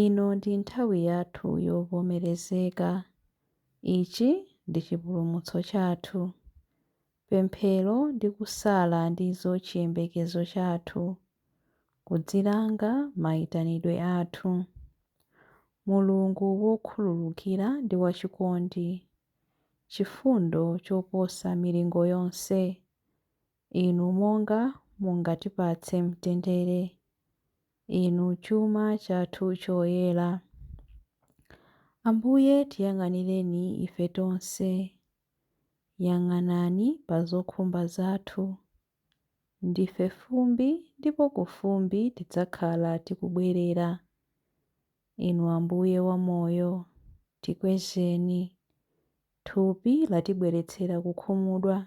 Ino ndi nthawi yathu yovomerezeka. Ichi ndi chipulumutso chathu. Pemphero ndi kusala ndizo chiyembekezo chathu, kudzilanga maitanidwe athu. Mulungu wokhululukira ndi wachikondi, chifundo choposa milingo yonse, Inu monga mungatipatse mtendere. Inu chuma chathu choyera. Ambuye, tiyang'anireni ife tonse. Yang'anani pa zokhumba zathu. Ndife fumbi ndipo ku fumbi tidzakhala tikubwerera. Inu Ambuye wa Moyo, tikwezeni. Thupi latibweretsera kukhumudwa.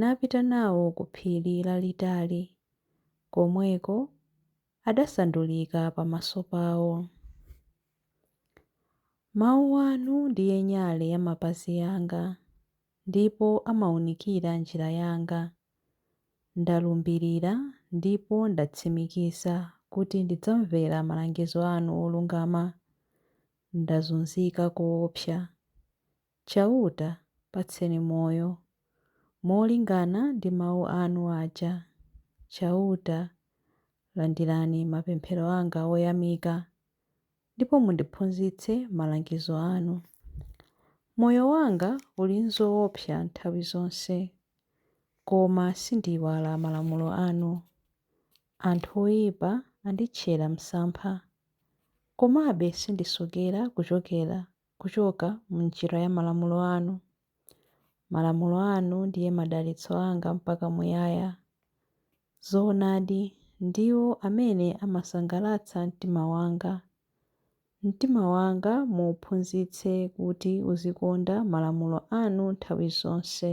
napita nawo ku phiri lalitali, komweko adasandulika pamaso pao. Mau anu ndiye nyale ya mapazi anga, ndipo amaunikira njira yanga. Ndalumbirira ndipo ndatsimikiza kuti ndidzamvera malangizo anu olungama. Ndazunzika koopsa, Chauta, patseni moyo. molingana ndi mau anu aja. Chauta, landirani mapemphero anga oyamika, ndipo mundiphunzitse malangizo anu. Moyo wanga uli m'zoopsa nthawi zonse, koma sindiiwala malamulo anu. Anthu oipa anditchera msampha, komabe sindisokera kuchokera kuchoka m'njira ya malamulo anu. Malamulo anu ndiye madalitso anga mpaka muyaya. Zoonadi, ndiwo amene amasangalatsa mtima wanga. Mtima wanga muuphunzitse kuti uzikonda malamulo anu nthawi zonse.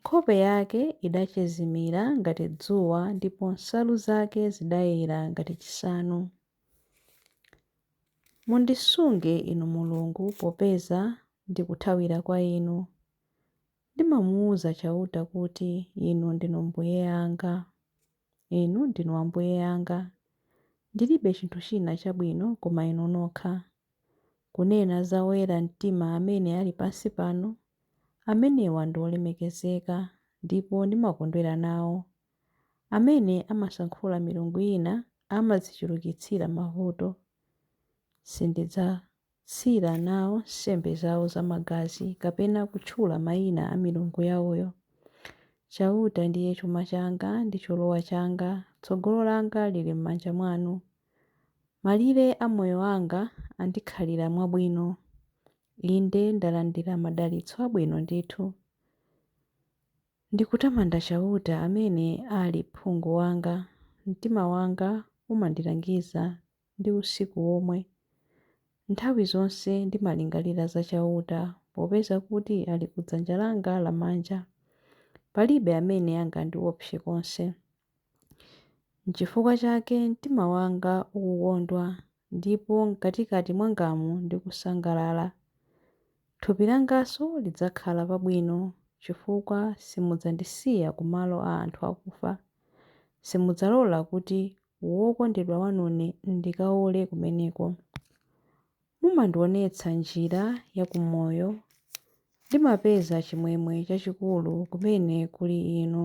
Nkhope yake idachezimira ngati dzuwa ndipo nsalu zake zidayera ngati chisanu. Mundisunge Inu Mulungu popeza ndikuthawira kwa Inu. Ndimamuuza Chauta kuti, Inu ndinu Mbuye anga. Inu ndinu Ambuye anga. Ndilibe chinthu china chabwino koma Inu nokha. Kunena za oyera mtima amene ali pansi pano, amenewa ndi olemekezeka ndipo ndimakondwera nawo. Amene amasankhula milungu ina amadzichulukitsira mavuto. Sindidzatsira nawo nsembe zawo zamagazi kapena kutchula mayina a milungu yawoyo. Chauta ndiye chuma changa ndi cholowa changa, tsogolo langa lili m'manja mwanu. Malire a moyo anga andikhalira mwabwino, inde, ndalandira madalitso abwino ndithu. Ndikutamanda Chauta amene ali phungu wanga, mtima wanga umandilangiza ndi usiku womwe. Nthawi zonse ndimalingalira za Chauta, popeza kuti ali ku dzanja langa lamanja. Palibe amene angandiopse konse. Nchifukwa chake mtima wanga ukukondwa, ndipo mkatikati mwangamu ndikusangalala. Thupi langanso lidzakhala pabwino, chifukwa simudzandisiya ku malo a anthu akufa. Simudzalola kuti wokondedwa wanune ndikaole kumeneko. Mumandionetsa njira ya ku moyo. Ndimapeza chimwemwe chachikulu kumene kuli Inu.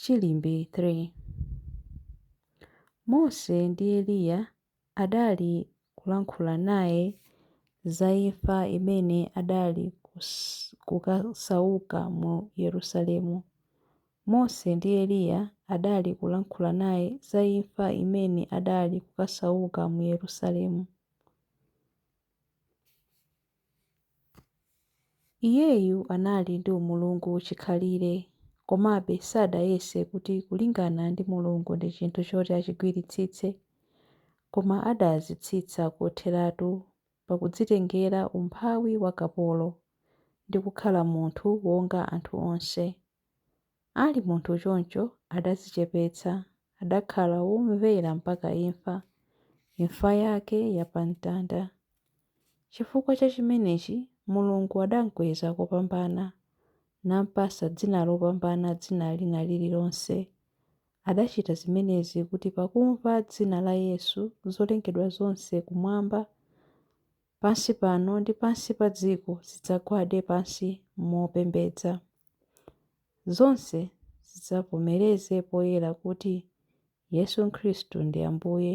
Chiimbi 3 Mose ndi Eliya adali kulankhula naye za imfa imene adali kukasauka mu Yerusalemu. Mose ndi Eliya adali kulankhula naye za imfa imene adali kukasauka mu Yerusalemu. Iyeyu anali ndi umulungu chikhalire, komabe sadayese kuti kulingana ndi Mulungu ndi chinthu choti achigwiritsitse, koma adazitsitsa kotheratu pa kudzitengera umphawi wa kapolo, ndi kukhala munthu wonga anthu onse. Ali munthu choncho adazichepetsa, adakhala womvera mpaka imfa, imfa yake ya pa mtanda. Chifukwa cha chimenechi, Mulungu adamkweza kopambana, nampasa dzina lopambana dzina lina lililonse. Adachita zimenezi kuti pakumva dzina la Yesu, zolengedwa zonse kumwamba pansi pano ndi pansi pa dziko zidzagwade pansi mopembedza. Zonse zidzavomereze poyera kuti Yesu Khristu ndi Ambuye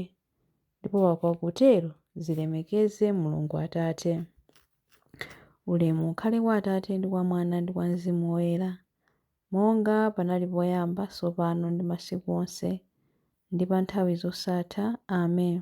ndipo pakutero zilemekeze Mulungu Atate. Ulemu ukhale kwa Atate ndi kwa Mwana ndi kwa Mzimu Woyera, monga panali poyamba, tsopano ndi masiku onse, ndi pa nthawi zosatha. Amen.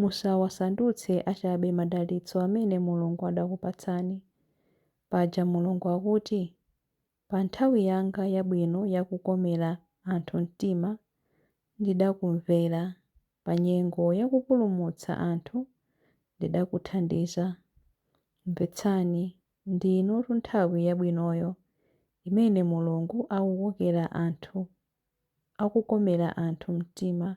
Musawasandutse achabe madalitso amene Mulungu adakupatsani. Paja Mulungu akuti, Pa nthawi yanga yabwino ya kukomera anthu mtima, ndidakumvera, pa nyengo ya kupulumutsa anthu, ndidakuthandiza. Mvetsani, ndi inotu nthawi yabwinoyo, imene Mulungu akukokera anthu akukomera anthu mtima.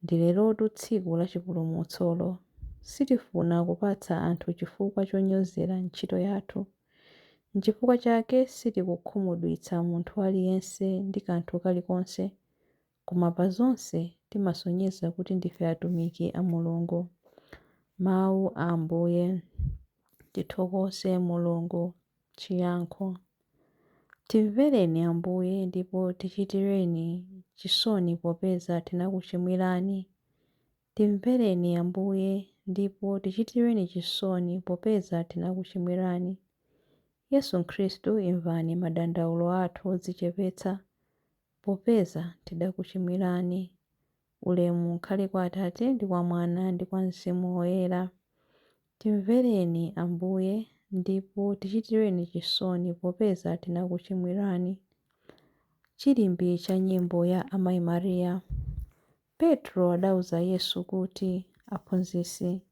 Ndilerotu tsiku la chipulumutsolo. Sitifuna kupatsa anthu chifukwa chonyozera ntchito yathu. N'chifukwa chake sitikukhumudwitsa munthu aliyense ndi kanthu kalikonse, koma pa zonse timasonyeza kuti ndife atumiki a Mulungu. Mawu a Ambuye. Tithokoze Mulungu. Chiyankho. Timvereni Ambuye ndipo tichitireni chisoni popeza tinakuchimwirani. Timvereni Ambuye ndipo tichitireni chisoni popeza tinakuchimwirani. Yesu Khristu imvani madandaulo athu odzichepetsa, Popeza tidakuchimwirani. Ulemu ukhale kwa Atate ndi kwa Mwana ndi kwa Mzimu Woyera. Timvereni, Ambuye, ndipo tichitireni chisoni popeza tinakuchimwirani. Chilimbi cha Nyimbo ya Amayi Maria. Petro adauza Yesu kuti, Aphunzitsi,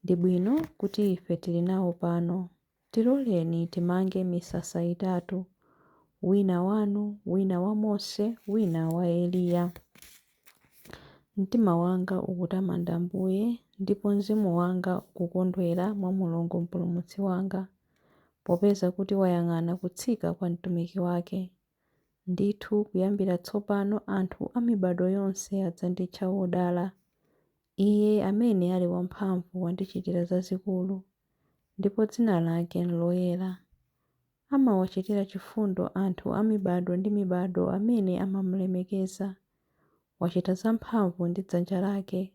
ndi bwino kuti ife tili nawo pano. Tiloleni timange misasa itatu, wina wanu, wina wa Mose, wina wa Eliya. Mtima wanga ukutamanda Ambuye, ndipo mzimu wanga ukukondwera mwa Mulungu Mpulumutsi wanga, popeza kuti wayang'ana kutsika kwa mtumiki wake. Ndithu kuyambira tsopano anthu a mibado yonse adzanditcha wodala. Iye amene ali wamphamvu wandichitira zazikulu, ndipo dzina lake n'loyera. Amawachitira chifundo anthu a mibado ndi mibado amene amamulemekeza. Wachita zamphamvu ndi dzanja lake.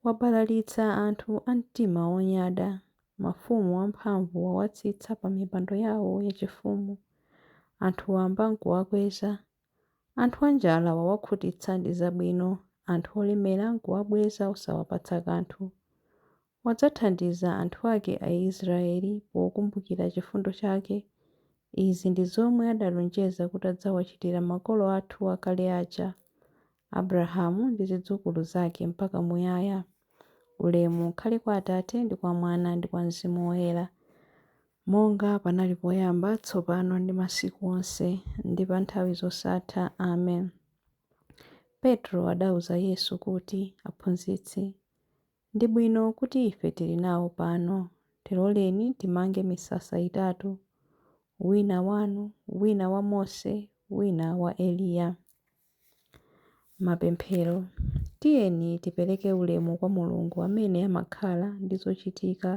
Wabalalitsa anthu a mtima wonyada, mafumu amphamvu wawatsitsa pamipando yawo yachifumu. Anthu wamba n'kuwakweza. Anthu anjala wawakhutitsa ndi zabwino, anthu olemera nkuwabweza osawapatsa kanthu. Wadzathandiza anthu ake Aisraeli pokumbukira chifundo chake. Izi ndi zomwe adalonjeza kuti adzawachitira makolo athu akale aja, Abrahamu ndi zidzukulu zake mpaka muyaya. Ulemu ukhale kwa Atate, ndi kwa Mwana, ndi kwa Mzimu Woyera. Monga panali poyamba, tsopano, ndi masiku onse, ndi pa nthawi zosatha. Amen. Petro adauza Yesu kuti, Aphunzitsi, ndi bwino kuti ife tili nawo pano. Tiloleni timange misasa itatu, wina wanu, wina wa Mose, wina wa Eliya. Mapemphero, Tiyeni tipereke ulemu kwa Mulungu amene amakhala ndi zochitika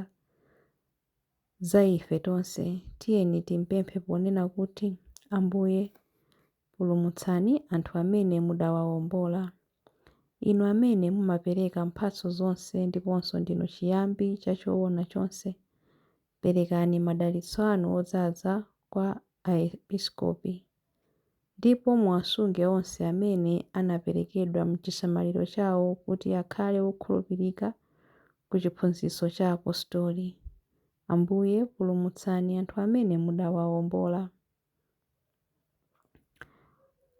za ife tonse. Tiyeni timpemphe ponena kuti, Ambuye, pulumutsani anthu amene mudawaombola. Inu amene mumapereka mphatso zonse ndiponso ndinu chiyambi cha choona chonse, Perekani madalitso anu odzaza kwa Aepiskopi, ndipo muwasunge onse amene anaperekedwa m'chisamaliro chawo kuti akhale okhulupirika ku chiphunzitso cha Apostoli. Ambuye, pulumutsani anthu amene mudawaombola.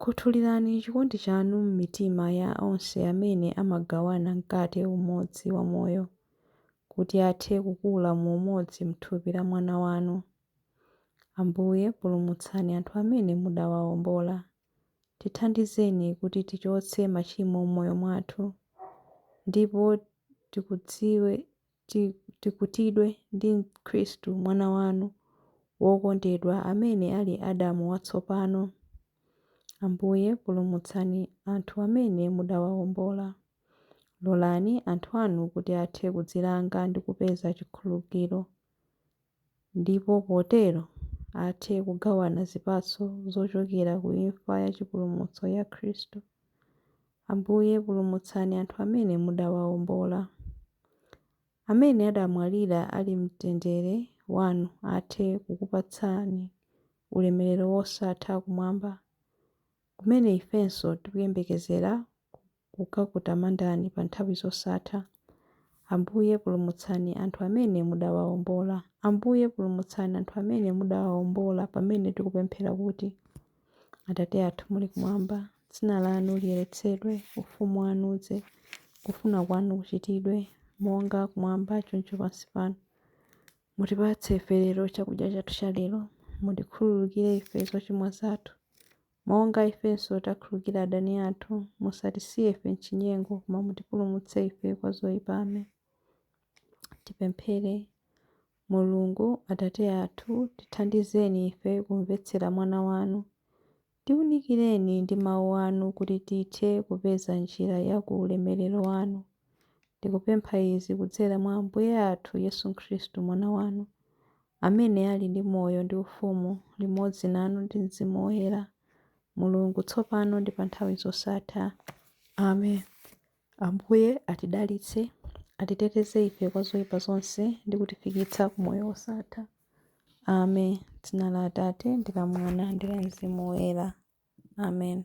Khuthulirani chikondi chanu m'mitima ya onse amene amagawana mkate umodzi wa moyo, kuti athe kukula mu umodzi m'thupi la Mwana wanu. Ambuye, pulumutsani anthu amene mudawaombola. Tithandizeni kuti tichotse machimo m'moyo mwathu, ndipo tikudziwe. tikutidwe ndi Khristu Mwana wanu wokondedwa, amene ali Adamu watsopano. Ambuye, pulumutsani anthu amene mudawawombola. Lolani anthu anu kuti athe kudzilanga ndi kupeza chikhululukiro. ndipo potero athe kugawana zipatso zochokera ku imfa ya chipulumutso ya Khristu. Ambuye, pulumutsani anthu amene mudawaombola. Amene adamwalira ali m'mtendere wanu athe kukupatsani ulemerero wosatha kumwamba, kumene ifenso tikuyembekezera kukakutamandani pa nthawi zosatha. Ambuye, pulumutsani anthu amene mudawaombola. Ambuye, pulumutsani anthu amene mudawaombola pamene tikupemphera kuti, Atate athu muli kumwamba, dzina lanu liyeretsedwe, ufumu wanu udze, kufuna kwanu kuchitidwe, monga kumwamba choncho pansi pano. Mutipatse ife lero chakudya chathu chalero. Mutikhululukire ife zochimwa zathu, monga ifenso takhulukira adani athu, musatisiye ife m'chinyengo, koma mutipulumutse ife kwa zoipa. Amen. Tipemphere. Mulungu, Atate athu, tithandizeni ife kumvetsera Mwana wanu. Tiunikireni ndi mawu anu kuti tithe kupeza njira ya ku ulemerero wanu. Tikupempha izi kudzera mwa Ambuye athu Yesu Khristu, Mwana wanu. amene ali ndi moyo ndi ufumu limodzi nanu ndi Mzimu Woyera, Mulungu, tsopano ndi pa nthawi zosatha. Amen. Ambuye atidalitse, atiteteze ife kwa zoipa zonse ndi kutifikitsa ku moyo wosatha. Amen. Dzina la Atate ndi la Mwana ndi la Mzimu Woyera. Amen.